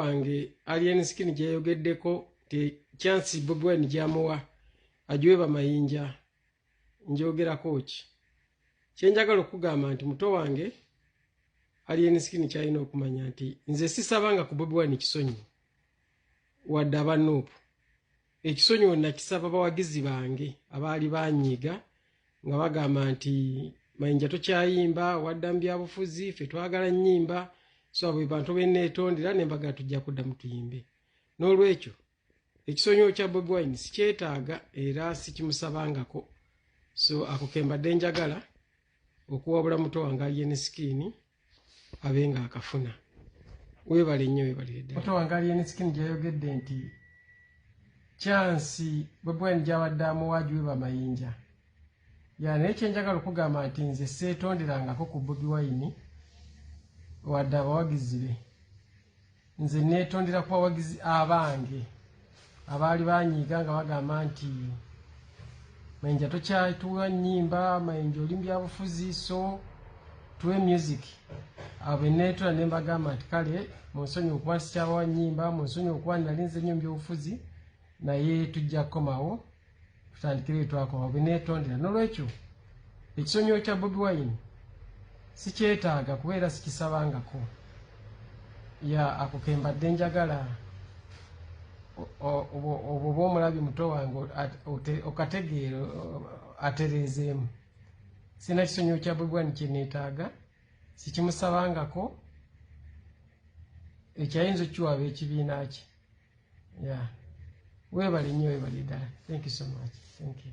wange alien skin gyeyogeddeko nti chance bobi wine gyamuwa agiwe bamayinja njogerako ki kyenjagala okugamba nti muto wange alien skin kyalina okumanya nti nze sisabanga ku bobi wine kisonyi wadde abanuupu Ekisonyiwo nakisaba bawagizi bange abaali banyiiga nga bagamba nti Mayinja tokyayimba, wadda mu byabufuzi, ffe twagala nnyimba so abo be bantu be nneetondera ne mbagala tujja kuddamu tuyimbe. N'olwekyo ekisonyiwo kya Bobi Wine sikyetaaga era sikimusabangako so ako ke mbadde njagala okuwabula muto wange Alien Skin abe nga akafuna webale nnyo webalirddaaoto wange alienisikini gyayogedde nti kyansi bwebwani gyabadde amuwaji we bamayinja ya naye kyenjagala okugamba nti nze seetonderangako ku bobi wayini wadde abawagizi be Nze neetondera ku bawagizi abange abaali banyiiga nga bagamba nti mayinja tokyatuwa nnyimba mayinja oli mubyabufuzi so tuwe music abo neetula ne mbagamba nti kale munsonyi okuba nsikyabawa nnyimba munsonyi okuba nali nze nnyo mubyobufuzi naye tujja kukomawo tutandikire etwakoma bwenetondera nolwekyo ekisonyiwo kya bobi wine sikyetaaga kuba era sikisabangako ya ako kembadde njagala obwo oba omulabi muto wange okategeera atereezeemu sina kisonyiwo kya bobi wine kyenetaaga sikimusabangako ekyayinza okukiwaaba ekibiina kye yeah. webale nnyo webale ddala thank you so much thank you